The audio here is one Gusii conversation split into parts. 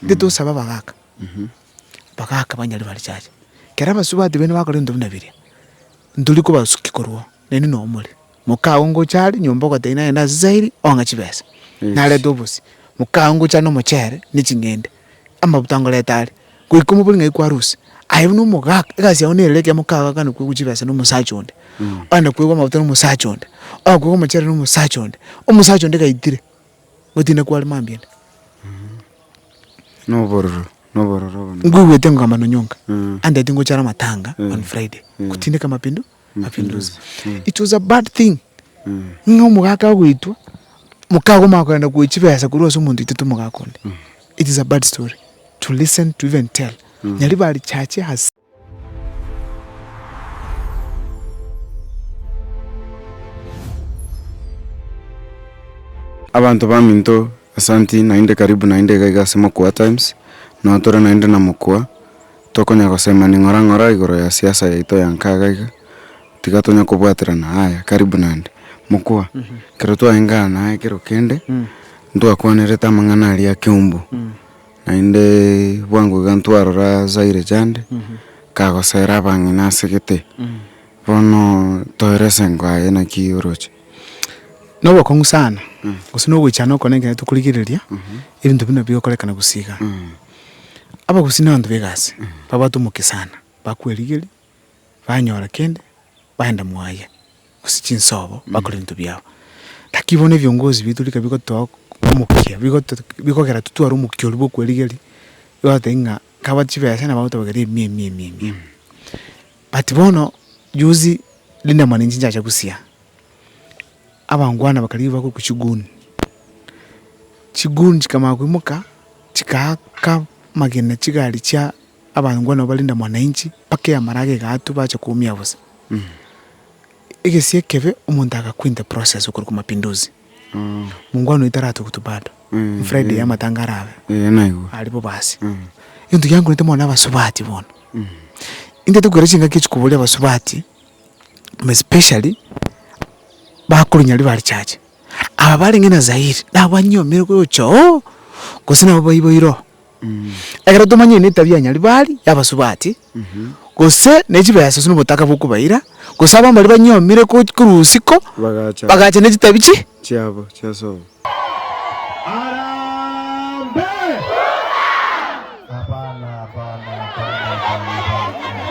Intwe tosabe abagaaka, abagaaka banyare barichache. Ekero abasubati baino bakora ebinto buna biria, ntori kobasukia korwao, nainwe noo more. Mokago ngocha are nyomba ogotebia nagende ase Zairi ong'e chibesa, narete obosie. Mokago ngocha are nomochere ne ching'ende, amabuta ngorete are, goika omobori ng'ai kwarusia. Aye buna omogaaka, egasi yao nerere ekiagera mokago akana koegwa chibesa na omosacha onde, akana koegwa amabuta na omosacha onde, akana koegwa omochere na omosacha onde, omosacha onde gaitire. Gotiina kware mambia ande. Nobororo, nobororo obo. Nkoigwete nkogamba nonyonka. Andeti ngochare amatanga on Friday. Gotindeka mapindu, mapinduzi. It was a bad thing. Ng'a omogaka agoitwa, mokaago omanye kogenda koyia chibesa korwa ase omonto oitete omogaka onde. It is a bad story to listen to even tell. Nyaribari chache has. Abanto baminto, asanti naende karibu naende iga iga ase Mokuaa Times, nao tore naende na Mokuaa, tokonya gosema ning'ora ng'ora igoro ya siasa yaito ya nkaga iga, tiga tonya kobwaterana aya, karibu naende. Mokuaa, ekero twaengana naye ekero kende, ntwakwanerete amang'ana aria a keumbu. Naende bwango iga ntwarora Zaire Jande kagosera abang'ina ase gete, bono toere ase engo aye naki oroche? Na obokong'u sana, gose na ogoichana okore na ekero tokorigereria ebinto buna bigokorekana gusii igaa. Abagusii na abanto ba egasi babwate omokia sana, bakwerigeria, banyora kende, baenda mwaye. gose chinsobo bakore ebinto biabo. Naki bono ebiongozi biaito rika bigotoa omokia, bigoto bigokera totware omokia oria bwa okwerigeria, bagoteba ng'a kaba chibesa nabo bagotobokera emia emia emia emia emia. But bono juzi Linda Mwananchi nchacha gosia, abangwana bakarigia bagoikwa chiguni, chiguni chikamanya koimoka, chikaaka amagena chigari chia abangwana ba Linda Mwananchi, mpaka eamaraga egaatwa bacha koumia bosa. Egesie ekebe omonto agakwinta process okorwa kwa mapinduzi mungwano eye taratogotwe bado ni friday ya amatanga arabe aria bo basi egento giankorete mono na abasubati bono intete kogera chingaki echi koboria abasubati more especially bakorunyari ba richache aba barenge na zairi nabo banyiomire gocha oo gose nabo baiboire oo Ekero tomanyeti netabia ya Nyaribari y'abasubati, gose ne chibesa gose nobotaka bw'okobaira, gose abwo mbaria banyomire ko- korwa usiku, Bagacha. bagacha ne chitabia chi. chiabo chi'esomo. Hapana, hapana, hapana, hapana, hapana.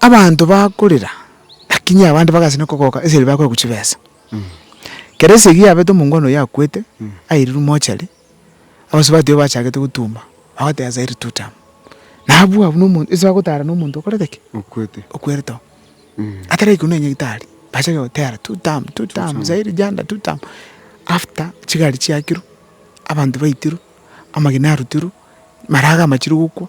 Abanto bakorera, lakini abande bagasi na kogoka eseri bakoegwa chibesa. Kera esegi yabete omongwana oyio akwete, airirwe mochari, abasubati abwo bachagete gotuma, bagoteeba zairi tu tamu. Nabwo abwo na omo ase bagotara na omonto okorete ki? Okwete. Okwerete oo. Ataraikwa na nyagetari, bachake gotera tu tamu, tu tamu, zairi janda tu tamu. After chigari chiakirwe, abanto baitirwe, amagena arutirwe, marago amachire gokwa.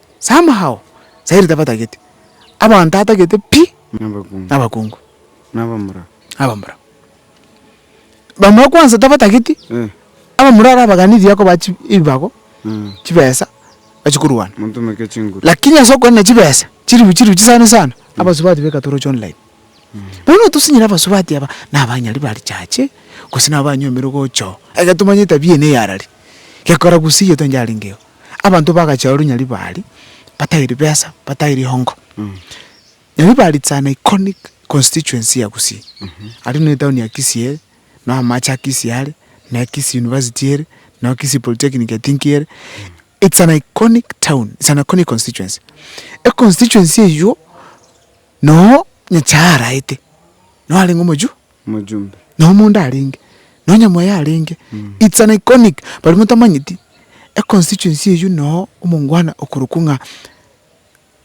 Samahao, Sairi tabatagete, abanto atagete pi, na abakungu, na abamura. Bamura kwansa tabatageti, abamura arabaganirie akobaha chi ebibago, chibesa, bachi korwana. Lakini ase okorenda chibesa, chiribu chiribu chisana sana, abasubati beka toroche online. Bono otosinyire abasubati aba, na abanyari ba richache, gose nabo banyomire gocha oo, ekero tomanyire etabia eye neyarari. gekora gose egento onye yarengeo. Abanto bagachia ororo nyari bari batari ribesa batari rihongo. Nyari bari it's an iconic constituency ya Gusii. Aria no etown ya Kisii ere, no amache a Kisii are, no Kisii University ere, no Kisii Polytechnic I think ere. It's an iconic town, it's an iconic constituency. Econstituency eyio no Nyasaye araete, no arenge omochwo. Mojumbe. Na omonda arenge. Na onyamwaye arenge. It's an iconic. Baria motamanyeti, econstituency eyio noo omongwana okorokwa ng'a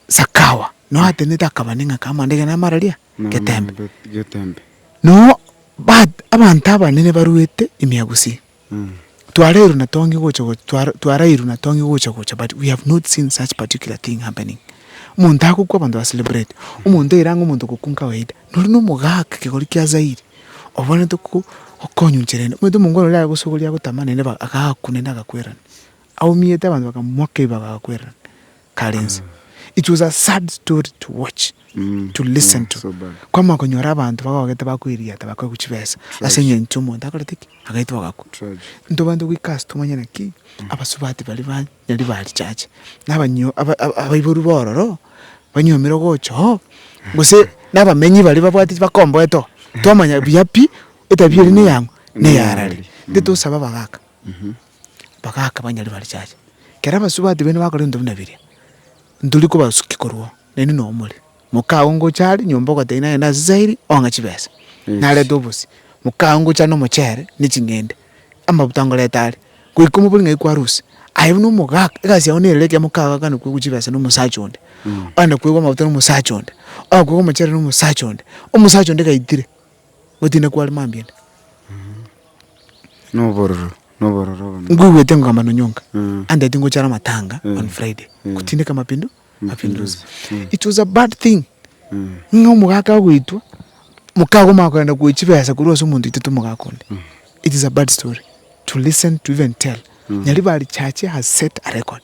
Sakawa. Noo atenete akaba neng'ake amande egere namara ria? Getembe. Getembe. Noo, but abanto abanene baruete ime ya Gusii. Twarairwe na tong'e gocha gocha, twara, twarairwe na tong'e gocha gocha but we have not seen such particular thing happening. Omonto agokwa abanto ba celebrate, omonto oira ang'e omonto ogokwa nkawaida. Nori na omogaka ekegori kia Zaire, obwenerete ko, gokonywa inchera ende. Omanyete omongwana oria agosogoria agotama naende ba, agakwa naende agakwerana. Aumete abanto bakamomoka ebibago agakwerana. Karensi it was a sad story to watch to listen to kwamanya konyora abanto bagogete bakoiriata bakaigwa chibesa ase engencho omonto akorete ki agaitwa agakwa into abanto goika ase tomanye naki abasubati baria ba nyari ba richache na abanyo abaiboru ba ororo banyomire ogocha oo gose na abamenyi baria babwate bakomboete oo twamanya buya pi etabia eria ne eyang'o ne eyarare intwe tosaba abagaka bagaaka banyare barichache. Kera abasubati baino bakora ebinto buna biria, ntori kobasukia korwa oo, naende noyo omore. Moka aye ngocha are nyomba ogotebia nagende ase sairi ong'e chibesa, narete obosie. Moka aye ngocha are na omochere na eching'ende, amabuta ngorete are, goika omobori ng'ai kwarusia, aye buna omogaka, egasi yago nere ekia moka aye ogakane koegwa chibesa na omosacha onde, ogakane koegwa amabuta na omosacha onde, ogakane koegwa omochere na omosacha onde, omosacha onde gaitire. Gotinda kware mambia ande. Nobororo, nobororo obo. Nkoigwete nkogamba nonya onka. Andeti ngochara amatanga on Friday. Gotindeka mapindu, mapinduzi. It was a bad thing. Ng'a omogaka agoitwa, moka agwo omanye kogenda koyia chibesa korwa ase omonto oitete omogaka onde. It is a bad story to listen to even tell. Nyaribari church has set a record.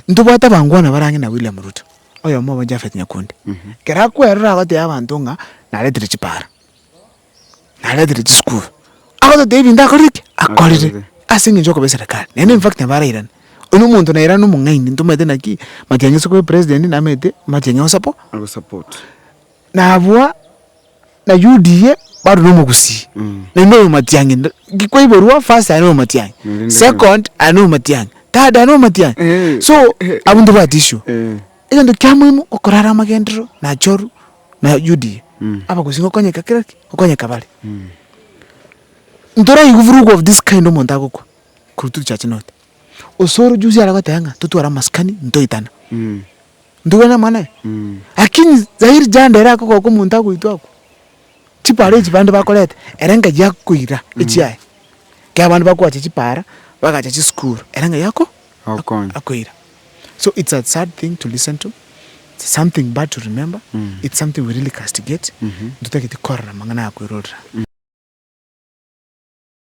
Ntobwate abangwana bare ang'e na William Ruto. oyomo obo Jafet nyakundi, ekero akwerora agotebia abanto ng'a naretire chipaara, naretire chisukuru, agototebia ebinto akorire ki? Akorire, ase eng'encho y'okoba eserekari, naende in fact nabarairane. Oyio nomonto nairane omong'aini, ntomanyete naki, matiang'i ase koba epresident, namanyete matiang'i ogosapo. Agosapote. na abwo na UDA bado na omogusii naende oyo matiang'i nd- ki- kwaiborwa first aye na omatiang'i second aye na omatiang'i third aye na omatiang'i so abwo ntibwati issue egento kia moino okorara amagenderero na achoru na UDA abagusii gokonyeka kera ki gokonyeka bare ntoraigwe vurugu of this kind omonto agokwa korwa turi chache north osoro juzi aragoteba ng'a totware amasikani ntoitane. Ntuge namang'ana aye? Lakini zairi jande ere akogoka omonto agoitwa agwo, chipaara echi bande bakorete, ere ng'ai akoira echiaye. Ekiagera abande bakoacha chipaara, bagacha chisukuru, ere ng'ai ako Okonya. akoira. So it's a sad thing to listen to, it's something bad to remember, it's something we really castigate, ntotagete korora amang'ana aya kwerorera.